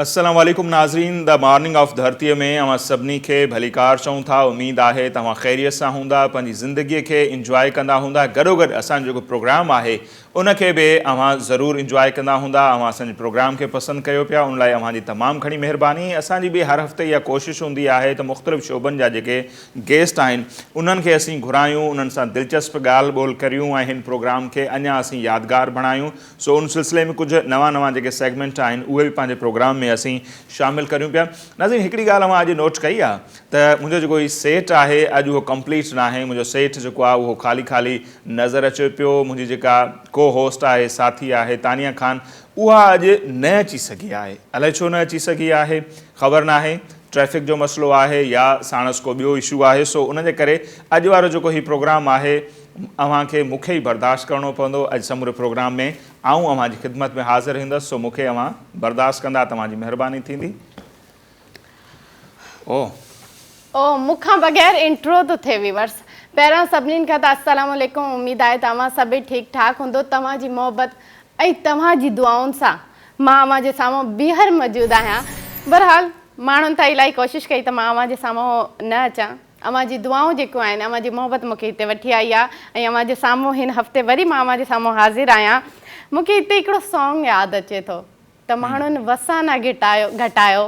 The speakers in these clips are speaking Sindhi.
السلام عليڪم ناظرين دا مارننگ آف ڌرتي ۾ اوهان سڀني کي ڀليڪار چئون ٿا اميد آهي ته اوهان خيريت سان هوندا پنهنجي زندگي کي انجواء ڪندا هوندا گڏوگڏ اسان جو جيڪو پروگرام آهي ان کي به اوهان ضرور انجواء ڪندا هوندا. اوهان اسان جي پروگرام کي پسند ڪيو پيا ان لاء اوهان جي تمام گهڻي مهرباني. اسان جي به هر هفتي اها ڪوشش هوندي آهي ته مختلف شعبن جا جيڪي گيسٽ آهن انهن کي اسين گهرايون انهن سان دلچسپ ڳالهه ٻولهه ڪريون ۽ هن پروگرام کي اڃا اسين يادگار بڻايون سو ان سلسلي ۾ ڪجهه نوان نوان جيڪي سيگمينٽ آهن اهي به پنهنجي پروگرام ۾ اسين شامل ڪريون پيا. ناظرين هڪڙي ڳالهه اوهان اڄ نوٽ ڪئي آهي ته منهنجو جيڪو هي سيٽ آهي اڄ اهو ڪمپليٽ ناهي منهنجو سيٽ جيڪو آهي اهو خالي خالي نظر اچي پيو منهنجي جيڪا ڪو هوسٽ آهي ساٿي آهي تانيا خان اها اڄ نه اچي سگهي آهي الائي ڇو نه اچي سگهي آهي خبر ناهي ٽريفڪ جو مسئلو آهي يا ساڻس ڪو ٻيو اشو آهي سو ان جي ڪري اڄ وارو جيڪو هي پروگرام آهي اوهان کي مون کي ئي برداشت ڪرڻو پوندو اڄ سموري پروگرام ۾ آئون اوهان جي خدمت ۾ حاضر هندس سو مون کي اوهان برداشت ڪندا توهان جي مهرباني ٿيندي. او او مون کان بغير انٽرو ٿو ٿئي ويورس پهريان سڀنين کان ته السلام عليڪم اميد آهي ته اوهان سڀئي ٺيڪ ٺاڪ هوندو توهان جي محبت ۽ توهان جي دعائن سان مان اوهان جي سامهون بيهر موجود آهيان برحال ماڻهن ته الائي ڪوشش ڪئي ته مان اوهان جي سامهون نه اچان اوهان جي دعائون جيڪيون آهن اوهان جي محبت مون کي هتي وٺي آئي آهي ۽ اوهان جي سامهون هن هفتي وري مان اوهان جي سامهون حاضر آهيان مون کي هتي هڪڙو سانگ ياد اچي ٿو ته ماڻهن وسانا گهٽايو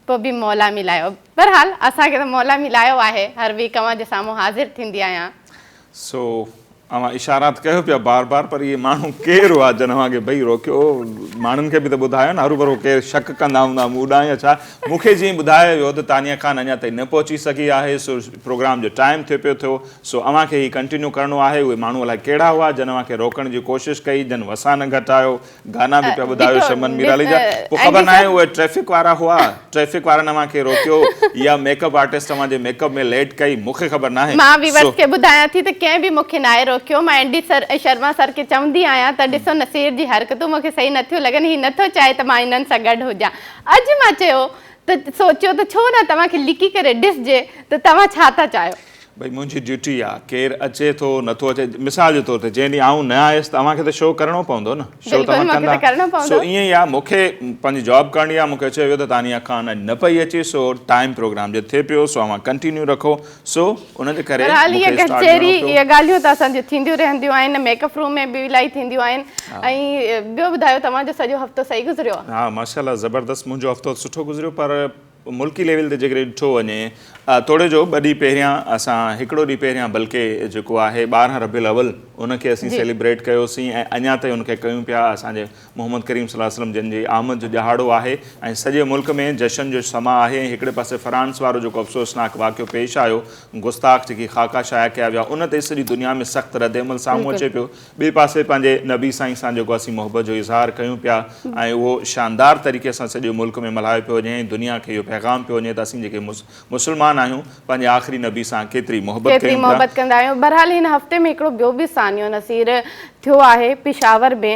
پوء به مولا ملايو بهرحال اسان کي ته مولا ملايو آهي هر ويڪ اوهان جي سامهون حاضر ٿيندي آهيان. سو اوهان اشارات ڪيو پيا بار بار پر اهي ماڻهو ڪير هئا جن اوهان کي ڀئي روڪيو ماڻهن کي به ته ٻڌايو نه هروڀرو ڪير شڪ ڪندا هوندا مون ڏانهن يا ڇا مون کي جيئن ٻڌايو ويو ته تانيا خان اڃا تائين نه پهچي سگهي آهي سو پروگرام جو ٽائيم ٿي پيو ٿيو سو اوهان کي هي ڪنٽينيو ڪرڻو آهي اهي ماڻهو الائي ڪهڙا هئا جن اوهان کي روڪڻ جي ڪوشش ڪئي جن وسانه گهٽايو گانا به پيا ٻڌايو شمن ميرالي جا پوء خبر ناهي اهي ٽريفڪ وارا هئا ٽريفڪ وارن اوهان کي روڪيو يا ميڪ اپ آرٽسٽ اوهان جي ميڪ اپ ۾ ليٽ ڪئي مون کي خبر ناهي مان ويورز کي ٻڌايان ٿي ته ڪنهن به مون کي ناهي روڪيو مان اينڊي سر ۽ شرما سر کي چوندي آهيان ته ڏسو نصير جي حرڪتون مون کي صحيح نه ٿيون لڳن هي نٿو چاهي ته مان هنن سان گڏ هجان اڄ مان چيو ته سوچيو ته ڇو نه توهان کي لڪي ڪري ڏسجي ته توهان ڇا ٿا چاهيو. ڀئي منهنجي ڊيوٽي آ ڪير اچي ٿو نٿو اچي مثال جي طور تي جنهن ڏينهن آئون نه آيس ته اوهان کي ته شو ڪرڻو پوندو نه شو ته اوهان ڪندا سو ائين ئي آ مون کي پنهنجي جاب ڪرڻي آ مون کي چيو ويو ته تانيا خان اڄ نه پئي اچي سو ٽائيم پروگرام جي ٿي پيو سو اوهان ڪنٽينيو رکو سو ان جي ڪري مون کي اسٽارٽ ڪرڻو پيو اهي ڳالهيون ته اسان جون ٿينديون رهنديون آهن ميڪ اپ روم ۾ به الائي ٿينديون آهن ۽ ٻيو ٻڌايو توهان جو سڄو هفتو صحيح گذريو ها ماشاءالله زبردست منهنجو هفتو سٺو گذريو پر ملڪي ليول تي جيڪڏهن ڏٺو وڃي توڙي جو ٻه ڏينهن پهريان اسان هڪڙو ڏينهن پهريان بلڪه جيڪو آهي ٻارهن ربيع الاول ان کي اسين سيليبريٽ ڪيوسين ۽ اڃا تائين ان کي ڪيون پيا اسان جي محمد ڪريم صلي الله عليه وسلم جن جي آمد جو ڏهاڙو آهي ۽ سڄي ملڪ ۾ جشن جو سماء آهي ۽ هڪڙي پاسي فرانس وارو جيڪو افسوسناڪ واقعو پيش آيو گستاخ جيڪي خاڪا شايع ڪيا ويا ان تي سڄي دنيا ۾ سخت ردعمل سامهون اچي پيو ٻئي پاسي پنهنجي نبي سائين سان جيڪو اسين محبت جو اظهار ڪيون پيا ۽ اهو شاندار طريقي سان سڄي ملڪ ۾ ملهايو پيو وڃي ۽ دنيا کي اهو پيغام پيو وڃي ته اسين جيڪي مسلمان آهيون پنهنجي آخري نبي سان ڪيتري محبت ڪيون پيا. محبت ڪندا آهيون بهرحال هن هفتي ۾ هڪڙو ٻيو به سانحو نصير ٿيو آهي پشاور ۾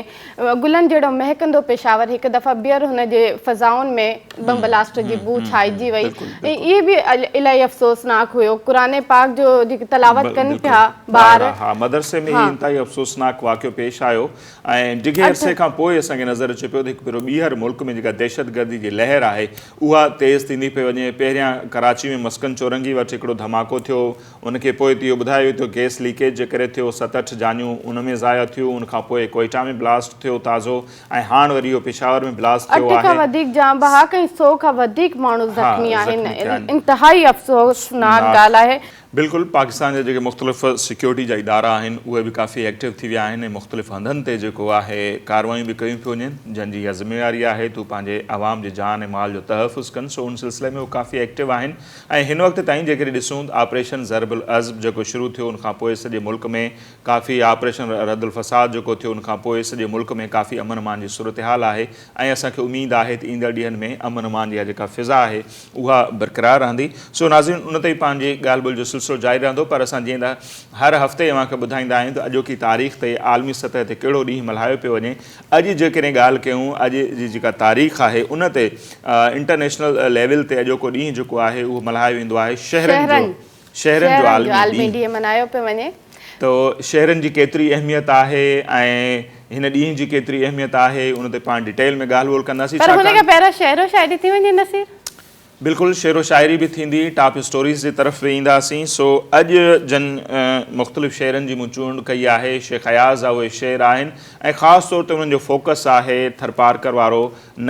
گلن جهڙو مهڪندو پشاور هڪ دفعه ٻيهر هن جي فضائن ۾ بم بلاسٽ جي بوء ڇائجي وئي ۽ اهي به الاهي افسوسناڪ هيو قرآن پاڪ جو جيڪي تلاوت ڪن پيا ٻار ها مدرسي ۾ هي انتهائي افسوسناڪ واقعو پيش آيو ۽ ڊگهي عرصي کان پوء اسان کي نظر اچي پيو ته هڪ ڀيرو ٻيهر ملڪ ۾ جيڪا دهشتگردي جي لهر آهي اها تيز ٿيندي پئي وڃي پهريان ڪراچي ۾ مسڪن چورنگي وٽ هڪڙو ڌماڪو ٿيو ان کي پوء اهو ٻڌايو ويو ته گئس ليڪيج جي ڪري ٿيو ست اٺ جانيون ان ۾ ضايع ٿيون ان کان پوء ڪوئيٽا ۾ بلاسٽ ٿيو تازو ۽ هاڻ وري اهو پشاور ۾ بلاسٽ ٿيو آهي. اٺ کان وڌيڪ جان بحق ۽ سؤ کان وڌيڪ ماڻهو زخمي آهن. انتهائي افسوسناڪ ڳالهه آهي. بلڪل پاڪستان جا جيڪي مختلف سيڪيورٽي جا ادارا آهن اهي به ڪافي ايڪٽو ٿي ويا آهن ۽ مختلف هنڌن تي جيڪو آهي ڪاروايون به ڪيون پيون وڃن جن جي اها ذميواري آهي تون پنهنجي عوام جي جان ۽ مال جو تحفظ ڪن سو ان سلسلي ۾ هو ڪافي ايڪٽو آهن ۽ هن وقت تائين جيڪڏهن ڏسون آپريشن ضرب العضب جيڪو شروع ٿيو ان کان پوء سڄي ملڪ ۾ ڪافي آپريشن ردالفساد جيڪو ٿيو ان کان پوء سڄي ملڪ ۾ ڪافي امن امان جي صورتحال آهي ۽ اسان کي اميد آهي ته ايندڙ ڏينهن ۾ امن امان جي اها جيڪا فضا آهي اها برقرار رهندي سو ناظرين ان تي به پنهنجي ڳالهه ٻولهه جو سلسلو جاري رهندو پر اسان جيئن ته هر هفتي اوهان کي ٻڌائيندا آهيون ته اڄوڪي تاريخ تي عالمي سطح تي ڪهڙو ڏينهن ملهايو پيو وڃي اڄ جيڪڏهن ڳالهه ڪيون اڄ جي جيڪا تاريخ آهي ان تي انٽرنيشنل ليول تي اڄوڪو ڏينهن جيڪو آهي اهو ملهايو ويندو آهي شهرن جو شهرن جو عالمي ڏينهن ملهايو پيو وڃي. ته شهرن جي ڪيتري اهميت آهي ۽ هن ڏينهن جي ڪيتري اهميت آهي ان تي پاڻ ڊيٽيل ۾ ڳالهه ٻولهه ڪنداسين. پر هن کان پهريان شعر و شاعري ٿي وڃي نصير. بلڪل شعر و شاعري به ٿيندي ٽاپ اسٽوريز جي طرف به اينداسين سو اڄ جن مختلف شعرن جي مون چونڊ ڪئي آهي شيخ اياز جا اهي شعر آهن ۽ خاص طور تي انهن جو فوڪس آهي ٿرپارڪر وارو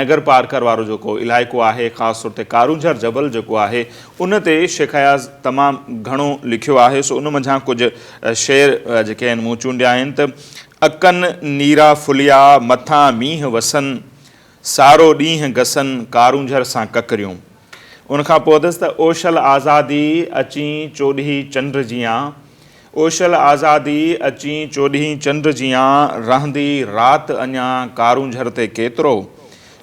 نگر پارڪر وارو جيڪو علائقو آهي خاص طور تي ڪارونجهر جبل جيڪو آهي ان تي شيخ اياز تمام گهڻو لکيو آهي سو ان منجهان ڪجهه شعر جيڪي آهن مون چونڊيا آهن ته اکن نيرا ڦليا مٿان مينهن وسن سارو ڏينهن گسن ڪارونجهر سان ڪڪريون ان کان پوء اٿس ته اوشل آزادي اچين چوڏهي چنڊ جيان اوشل آزادي اچين چوڏهين چنڊ جيان رهندي رات اڃا ڪارونجهر تي ڪيترو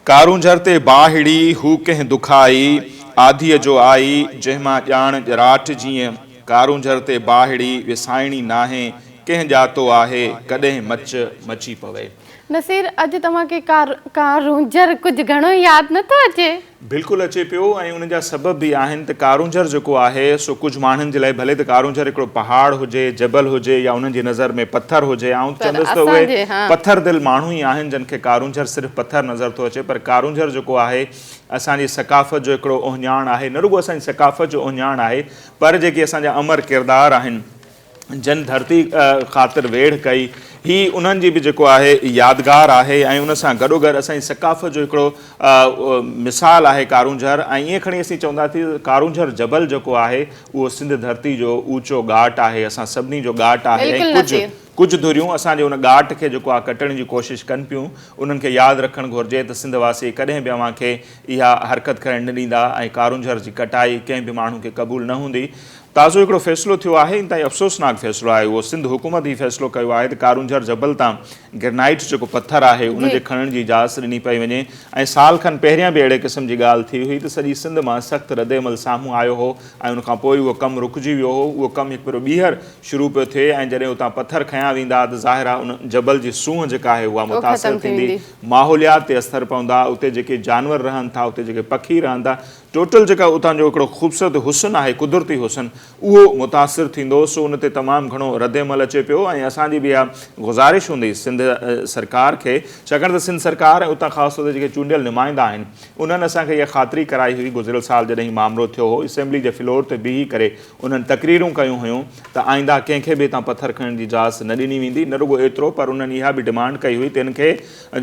ڪارونجهر تي باهڙي هو ڪنهن دکائي آڌيء جو آئي جنهن مان ڄاڻ ڄراٽ جيئن ڪارونجهر تي باهڙي وسائڻي ناهي ڪنهن ڄاتو آهي ڪڏهن مچ مچي پوي. نصير اڄ توهان کي ڪارونجهر ڪجهه گهڻو ياد نٿو اچي؟ بلڪل اچي پيو ۽ ان جا سبب به آهن ته ڪارونجهر جيڪو آهي سو ڪجهه ماڻهن جي لاء ڀلي ته ڪارونجهر هڪڙو پهاڙ هجي، جبل هجي يا انهن جي نظر ۾ پٿر هجي آئون ته چوندس ته اهي پٿر دل ماڻهو ئي آهن جن کي ڪارونجهر صرف پٿر نظر ٿو اچي پر ڪارونجهر جيڪو آهي اسان جي ثقافت جو هڪڙو اهڃاڻ آهي نه رڳو اسان جي ثقافت جو اهڃاڻ آهي پر جيڪي اسان جا امر ڪردار آهن جن ڌرتي خاطر ويڙهه ڪئي، هي انهن جي به جيڪو آهي يادگار آهي ۽ ان سان گڏوگڏ اسان جي ثقافت جو هڪڙو مثال آهي ڪارونجهر ۽ ائين کڻي اسين چوندا ته ڪارونجهر جبل جيڪو آهي اهو سنڌ ڌرتي جو اوچو ڳاٽ آهي، اسان سڀني جو ڳاٽ آهي ۽ ڪجهه ڪجهه ڌريون اسان جي ان ڳاٽ کي جيڪو آهي ڪٽڻ جي ڪوشش ڪن پيون، انهن کي ياد رکڻ گهرجي ته سنڌ واسي ڪڏهن به اوهان کي اها حرڪت ڪرڻ نه ڏيندا ۽ ڪارونجهر جي ڪٽائي ڪنهن به ماڻهو کي قبول نه هوندي. تازو هڪڙو فيصلو ٿيو آهي، انتهائي افسوسناڪ فيصلو آهي اهو، سنڌ حڪومت هي فيصلو ڪيو آهي ته ڪارونجهر جبل تان گرنائيٽ جيڪو پٿر آهي ان جي کڻڻ جي اجازت ڏني پئي وڃي ۽ سال کن پهريان به اهڙي قسم جي ڳالهه ٿي هئي ته سڄي سنڌ مان سخت ردعمل سامهون آيو هو ۽ ان کانپوء اهو ڪم رڪجي ويو هو اهو ڪم هڪ ڀيرو ٻيهر شروع پيو ٿئي ۽ جڏهن اتان پٿر کنيا ويندا ته ظاهر آهي ان جبل جي سونهن جيڪا آهي اها متاثر ٿيندي ماحوليات تي اثر پوندا اتي جيڪي جانور رهن ٿا اتي جيڪي پکي رهن ٿا ٽوٽل جيڪا اتان جو هڪڙو خوبصورت حسن آهي قدرتي حسن اهو متاثر ٿيندو سو ان تي تمام گهڻو رد عمل اچي پيو ۽ اسان جي به اها گذارش هوندي سنڌ سرڪار کي ڇاڪاڻ ته سنڌ سرڪار ۽ اتان خاص طور تي جيڪي چونڊيل نمائندا آهن انهن اسان کي اها خاطري ڪرائي هئي گذريل سال جڏهن هي مامرو ٿيو هو اسيمبلي جي فلور تي بيهي ڪري انهن تقريرون ڪيون هيون ته آئنده ڪنهن کي به هتان پٿر کڻڻ جي اجازت نه ڏني ويندي نه رڳو ايترو پر انهن اها به ڊمانڊ ڪئي هئي ته هن کي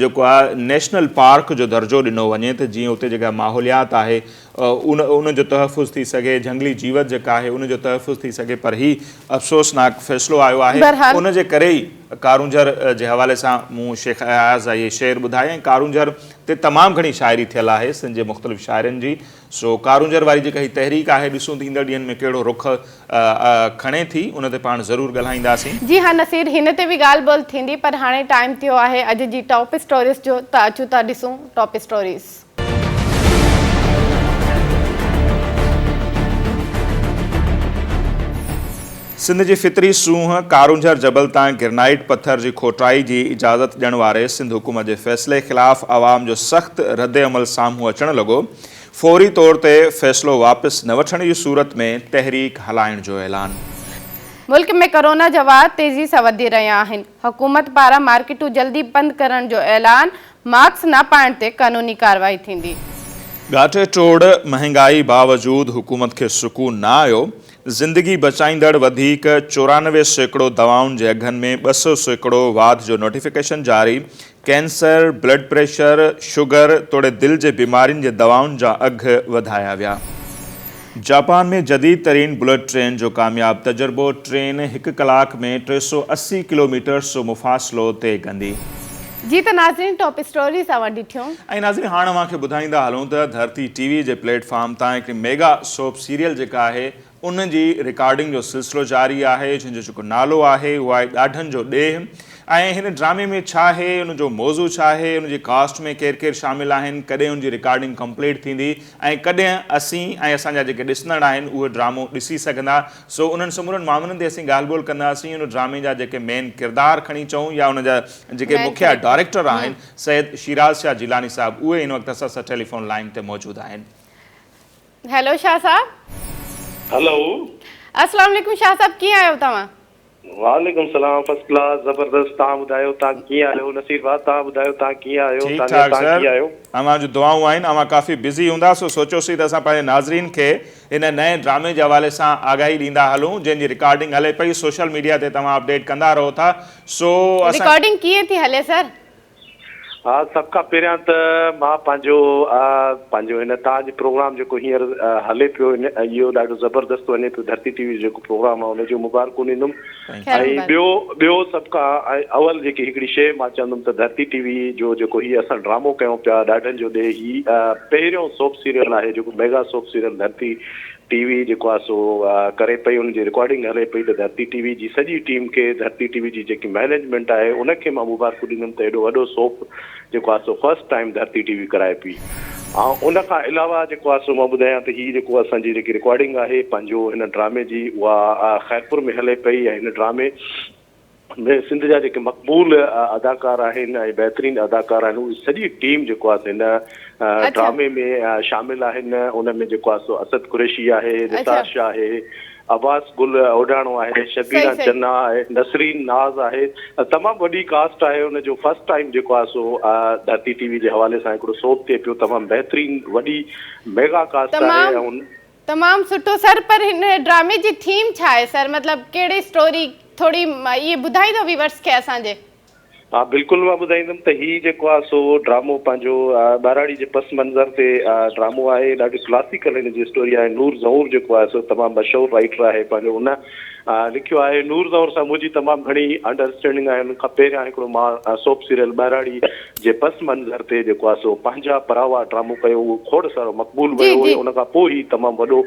جيڪو آ نيشنل پارڪ جو درجو ڏنو وڃي ته جيئن اتي جيڪا ماحوليات آهي ان ان جو تحفظ ٿي سگهي جهنگلي جيوت جيڪا آهي ان جو تحفظ ٿي سگهي پر هي افسوسناڪ فيصلو آيو آهي ان جي ڪري ئي ڪارونجهر جي حوالي سان مون شيخ اياز جا اهي شعر ٻڌائي ۽ ڪارونجهر تي تمام گهڻي شاعري ٿيل آهي سنڌ جي مختلف شاعرن جي سو ڪارونجهر واري جيڪا هي تحريڪ آهي ڏسون ته ايندڙ ڏينهن ۾ ڪهڙو رخ کڻي ٿي ان تي پاڻ ضرور ڳالهائينداسين. جي ها نصير هن تي به ڳالهه ٻولهه ٿيندي پر هاڻي ٽائيم ٿيو آهي اڄ جي ٽاپ اسٽوريز جو ته اچو ٿا ڏسون ٽاپ اسٽوريز. سنڌ جي فطري سونهن ڪارونجهر جبل تان گرنائيٽ پٿر جي کوٽائي جي اجازت ڏيڻ واري سنڌ حڪومت جي فيصلي خلاف عوام جو سخت ردعمل سامهون اچڻ لڳو، فوري طور تي فيصلو واپس نه وٺڻ جي صورت ۾ تحريڪ هلائڻ جو اعلان. ملڪ ۾ ڪورونا جا واهه تيزي سان وڌي رهيا آهن، حڪومت پاران مارڪيٽون جلدي بند ڪرڻ جو اعلان، ماسڪ نه پائڻ تي قانوني ڪارروائي ٿيندي. ڳاٽي ٽوڙ، مهانگائي باوجود حڪومت کي سڪون نه آيو، زندگي بچائيندڙ وڌيڪ چورانوي سيڪڙو دوائن جي اگهن ۾ ٻه سئو سيڪڙو واڌ جو نوٽيفڪيشن جاري، ڪينسر، بلڊ پريشر، شگر توڙي دل جي بيمارين جي دوائن جا اگهه وڌايا ويا. جاپان ۾ جديد ترين بلٽ ٽرين جو ڪامياب تجربو، ٽرين هڪ ڪلاڪ ۾ ٽي سؤ اسي ڪلوميٽرس جو مفاصلو طئي ڪندي. جي ته ناظرين ٽاپ اسٽوريز اوهان ڏٺيون. ۽ ناظرين هاڻ اوهان کي ٻڌائيندا هلون ته ڌرتي ٽي وي جي پليٽ فارم تان هڪڙي ميگا سوپ سيريل جيڪا آهي ان جي رڪارڊنگ جو سلسلو جاري آهي جنهن جو جيڪو نالو آهي اهو آهي ڏاڍن جو ڏيهه ۽ هن ڊرامي ۾ ڇا آهي ان جو موضوع ڇا آهي ان جي ڪاسٽ ۾ ڪير ڪير شامل آهن ڪڏهن ان جي رڪارڊنگ ڪمپليٽ ٿيندي ۽ ڪڏهن اسين ۽ اسان جا جيڪي ڏسندڙ آهن اهو ڊرامو ڏسي سگهندا سو انهن سمورن معاملن تي اسين ڳالهه ٻولهه ڪنداسين ان ڊرامي جا جيڪي مين ڪردار کڻي چئون يا ان جا جيڪي مکيه ڊائريڪٽر آهن سيد شيراز شاهه جيلاني صاحب اهي هن وقت اسان سان ٽيليفون لائين تي موجود آهن. هيلو شاهه صاحب. هلو. اسلام عليڪم شاهه صاحب ڪيئن آهيو توهان. وعليڪم سلام فرسٽ ڪلاس زبردست تهان ٻڌايو تهان ڪيئن آهيو نصير ڀاء تهان ٻڌايو تهان ڪيئن آهيو ٺيڪ تانيا ٺاڪ تهان سر ڪيئن آهيو. اوهان جون دعائون آهن اوهان ڪافي بزي هوندا سو سوچيوسين ته اسان پنهنجي ناظرين کي هن نئين ڊرامي جي حوالي سان آگاهي ڏيندا هلون جنهن جي رڪارڊنگ هلي پئي سوشل ميڊيا تي توهان اپڊيٽ ڪندا رهو ٿا سو اسان رڪارڊنگ ڪيئن ٿي هلي سر. ها سڀ کان پهريان ته مان پنهنجو آ پنهنجو هن تان جو پروگرام جيڪو هينئر هلي پيو ان اهو ڏاڍو زبردست وڃي پيو ڌرتي ٽي وي جو جيڪو پروگرام آ ان جون مبارڪون ڏيندم ۽ ٻيو ٻيو سڀ کان اول جيڪي هڪڙي شيء مان چوندم ته ڌرتي ٽي وي جو جيڪو هي اسان ڊرامو ڪيون پيا ڏاڍن جو ڏي هي پهريون سوپ سيريل آهي جيڪو mega soap serial Dharti T V جيڪو آ سو ڪري پئي ان جي رڪارڊنگ هلي پئي ته ڌرتي ٽي وي جي سڄي ٽيم کي ڌرتي ٽي وي جي جيڪي مئنيجمينٽ آهي ان کي مان مبارڪون ڏيندم ته ايڏو وڏو سوپ جيڪو آ سو first time Dharti T V ڪرائي پئي ۽ ان کان علاوه جيڪو آ سو مان ٻڌايان ته هي جيڪو اسان جي جيڪي رڪارڊنگ آهي پنهنجو هن ڊرامي جي اها خيرپور ۾ هلي پئي ۽ هن ڊرامي ۾ سنڌ جا جيڪي مقبول اداڪار آهن ۽ بهترين اداڪار آهن اهي سڄي ٽيم جيڪو آهي سو هن ڊرامي ۾ شامل آهن ان ۾ جيڪو آهي سو اسد قريشي آهي نثار شاهه آهي عباس گل اوڍاڻو آهي شبينا چنا آهي نسرين ناز آهي تمام وڏي ڪاسٽ آهي ان جو فرسٽ ٽائيم جيڪو آهي سو ڌرتي ٽي وي جي حوالي سان هڪڙو سوڀ ٿئي پيو تمام بهترين وڏي ميگا ڪاسٽ آهي تمام سٺو سر پر هن ڊرامي جي ٿيم ڇا آهي سر مطلب ڪهڙي اسٽوري ٿوري اهي ٻڌائيندو ويورس کي اسان جي. ها بلڪل مان ٻڌائيندم ته هي جيڪو آهي سو ڊرامو پنهنجو ٻهراڙي جي پس منظر تي ڊرامو آهي ڏاڍي ڪلاسيڪل هن جي اسٽوري آهي نور زهور جيڪو آهي سو تمام مشهور رائيٽر آهي پنهنجو ان لکيو آهي نور دور سان منهنجي تمام گهڻي انڊر اسٽينڊنگ آهي انهن کان پهريان هڪڙو مان سوپ سيريل ٻهراڙي جي پس منظر تي جيڪو آهي سو پنهنجا پراوا ڊرامو ڪيو اهو کوڙ سارو مقبول ويو هيو ان کان پوء هي تمام وڏو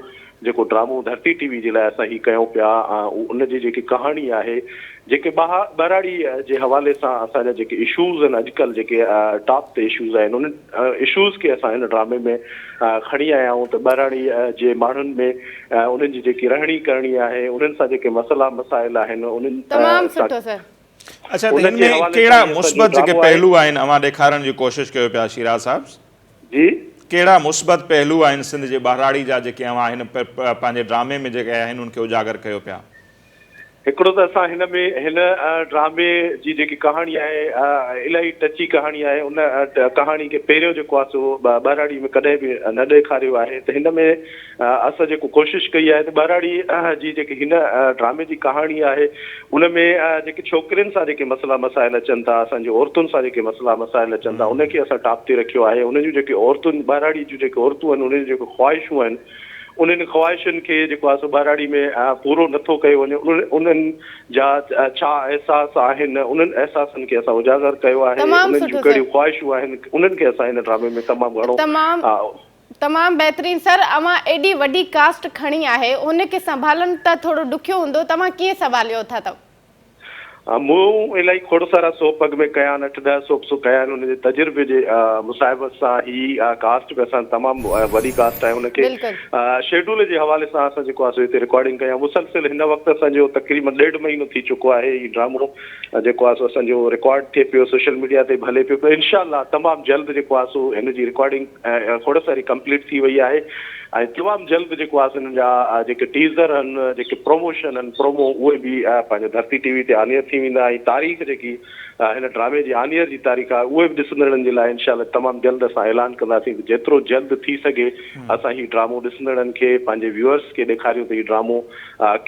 جيڪو ڊرامو ڌرتي ٽي وي جي لاء اسان هي ڪيون پيا ان جي جيڪي ڪهاڻي آهي جيڪي ٻهراڙي جي حوالي سان اسان جا جيڪي اشوز آهن اڄڪلهه جيڪي ٽاپ تي اشوز آهن انهن اشوز کي اسان هن ڊرامي ۾ کڻي آيا آهيون ته ٻهراڙي جي ماڻهن ۾ انهن جي جيڪي رهڻي ڪرڻي آهي انهن سان جيڪي مسئلا مسائل آهن انهن تمام سٺو سر. اڇا ته هن ۾ ڪهڙا مثبت جيڪي پهلو آهن اوهان ڏيکارڻ جي ڪوشش ڪيو پيا شيراز صاحب. جي. ڪهڙا مثبت پهلو آهن سنڌ جي ٻهراڙي جا جيڪي اوهان هن پنهنجي ڊرامي ۾ جيڪي آهن ان کي اجاگر ڪيو پيا. هڪڙو ته اسان هن ۾ هن ڊرامي جي جيڪي ڪهاڻي آهي الاهي ٽچي ڪهاڻي آهي ان ڪهاڻي کي پهريون جيڪو آهي سو ٻهراڙي ۾ ڪڏهن به نه ڏيکاريو آهي ته هن ۾ اسان جيڪو ڪوشش ڪئي آهي ته ٻهراڙي جي جيڪي هن ڊرامي جي ڪهاڻي آهي ان ۾ جيڪي ڇوڪرين سان جيڪي مسئلا مسائل اچن ٿا اسان جي عورتن سان جيڪي مسئلا مسائل اچن ٿا ان کي اسان ٽاپ تي رکيو آهي ان جون جيڪي عورتون ٻهراڙي جون جيڪي عورتون آهن انهن جون جيڪي خواهشون آهن انهن خواهشن کي جيڪو آهي سو ٻهراڙي ۾ پورو نٿو ڪيو وڃي انهن جا ڇا احساس آهن انهن احساسن کي اسان اجاگر ڪيو آهي انهن جون ڪهڙيون خواهشون آهن انهن کي اسان هن ڊرامي ۾ تمام گهڻو تمام بهترين سر اوهان ايڏي وڏي ڪاسٽ کڻي آهي هن کي سنڀالڻ ته ٿورو ڏکيو هوندو توهان ڪيئن سنڀاليو اٿا مون الائي کوڙ سارا سوپ اڳ ۾ ڪيا آهن، اٺ ڏهه سوپ سو ڪيا آهن، انهن جي تجربي جي مصاحبت سان هي ڪاسٽ به اسان تمام وڏي ڪاسٽ آهي، ان کي شيڊول جي حوالي سان اسان جيڪو آهي سو هتي رڪارڊنگ ڪئي آهي، مسلسل هن وقت اسان جو تقريبن ڏيڍ مهينو ٿي چڪو آهي هي ڊرامو جيڪو آهي سو اسان جو رڪارڊ ٿئي پيو، سوشل ميڊيا تي به هلي پيو، انشاء الله تمام جلد جيڪو آهي سو هن جي رڪارڊنگ کوڙ ساري ڪمپليٽ ٿي وئي آهي ۽ تمام جلد جيڪو آهي سن جا جيڪي ٽيزر آهن جيڪي پروموشن آهن پرومو اهي به پنهنجي ڌرتي ٽي وي تي آنيئر ٿي ويندا ۽ تاريخ جيڪي هن ڊرامي جي آنيئر جي تاريخ آهي اهي به ڏسندڙن جي لاء انشاء الله تمام جلد اسان اعلان ڪنداسين ته جيترو جلد ٿي سگهي اسان هي ڊرامو ڏسندڙن کي پنهنجي ويورس کي ڏيکاريون ته هي ڊرامو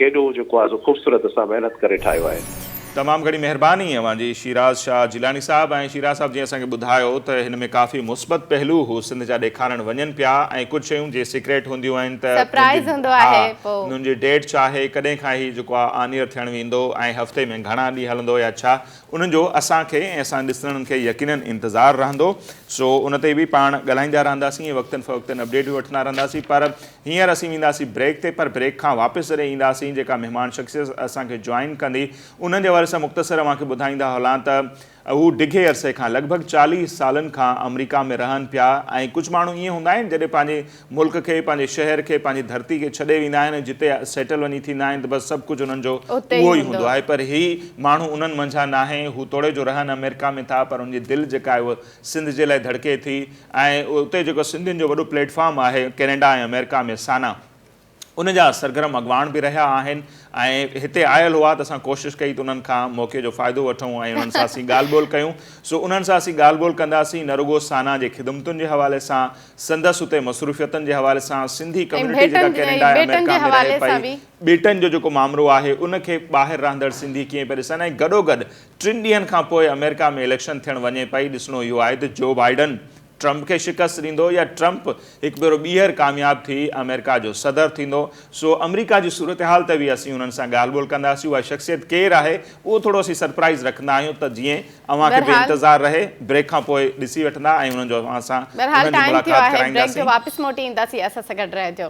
ڪيڏو جيڪو آهي سو خوبصورت اسان محنت ڪري ٺاهيو آهي. تمام گهڻي مهرباني اوهان جي شيراز شاهه جيلاني صاحب ۽ شيراز صاحب جيئن اسان کي ٻڌايو ته هن ۾ ڪافي مثبت پهلو هو سنڌ جا ڏيکارڻ وڃن پيا ۽ ڪجهه شيون جي سيڪريٽ هونديون آهن ته سرپرائز هوندو آهي پو انهن جي ڊيٽ ڇا آهي ڪڏهن کان هي جيڪو آهي آن ايئر ٿيڻ ويندو ۽ هفتي ۾ گهڻا ڏينهن هلندو يا ڇا انهن جو اسان کي ۽ اسان ڏسندڙن کي يقينن انتظار رهندو سو ان تي به پاڻ ڳالهائيندا رهنداسين ۽ وقتن فوقتن اپڊيٽ به وٺندا رهنداسين پر هينئر اسين وينداسين بريڪ تي پر بريڪ کان واپس جڏهن اينداسين جيڪا مهمان شخصيت اسان کي جوائن ڪندي انهن جي حوالي سان مختصر اوهان کي ٻڌائيندا هلان ته هو ڊگهي عرصي کان لڳ ڀڳ چاليهه سالن کان آمريڪا ۾ رهن پيا ۽ ڪجهه ماڻهو ائين هوندا آهن جڏهن پنهنجي ملڪ کي پنهنجي شهر کي پنهنجي ڌرتي کي ڇڏي ويندا آهن ۽ جتي سيٽل وڃي ٿيندا آهن ته بس سڀ ڪجهه انهن جو اهو ئي هوندو آهي پر هي ماڻهو انهن منجهان ناهي هو توڙي جو رهن آمريڪا ۾ ٿا پر انهن جي دل جيڪا آهي اهو سنڌ جي لاء ڌڙڪي ٿي ۽ اتي جيڪو سنڌين جو وڏو پليٽ فارم آهي ڪينيڊا ۽ آمريڪا ۾ سانا ان جا سرگرم اڳواڻ به رهيا آهن ۽ هتي آيل هئا ته اسان ڪوشش ڪئي ته انهن کان موقعي جو فائدو وٺون ۽ انهن سان اسين ڳالهه ٻولهه ڪيون سو انهن سان اسين ڳالهه ٻولهه ڪنداسين نه رڳو سانا جي خدمتن جي حوالي سان سندس اتي مصروفيتن جي حوالي سان سنڌي ڪميونٽي جيڪا ڪينيڊا ۽ آمريڪا ۾ رهي پئي ٻيٽن جو جيڪو مامرو آهي ان کي ٻاهر رهندڙ سنڌي ڪيئن پيا ڏسن ۽ گڏوگڏ ٽن ڏينهن کان پوء آمريڪا ۾ اليڪشن ٿيڻ وڃي پئي، ڏسڻو اهو آهي ته جو بائيڊن ٽرمپ کي شڪست ڏيندو يا ٽرمپ هڪ ڀيرو ٻيهر ڪامياب ٿي آمريڪا جو صدر ٿيندو، سو آمريڪا جي صورتحال تي به اسين انهن سان ڳالهه ٻولهه ڪنداسين، اها شخصيت ڪير آهي اهو ٿورو اسين سرپرائيز رکندا آهيون ته جيئن اوهان کي به بهرحال. انتظار رهي، بريڪ کان پوء ڏسي وٺندا ۽ انهن جو اوهان سان بهرحال انهن جي ٽائيم ٿيو ملاقات آهي بريڪ جو ڪرائينداسين. واپس موٽي اينداسين اسان سان گڏ رهجو.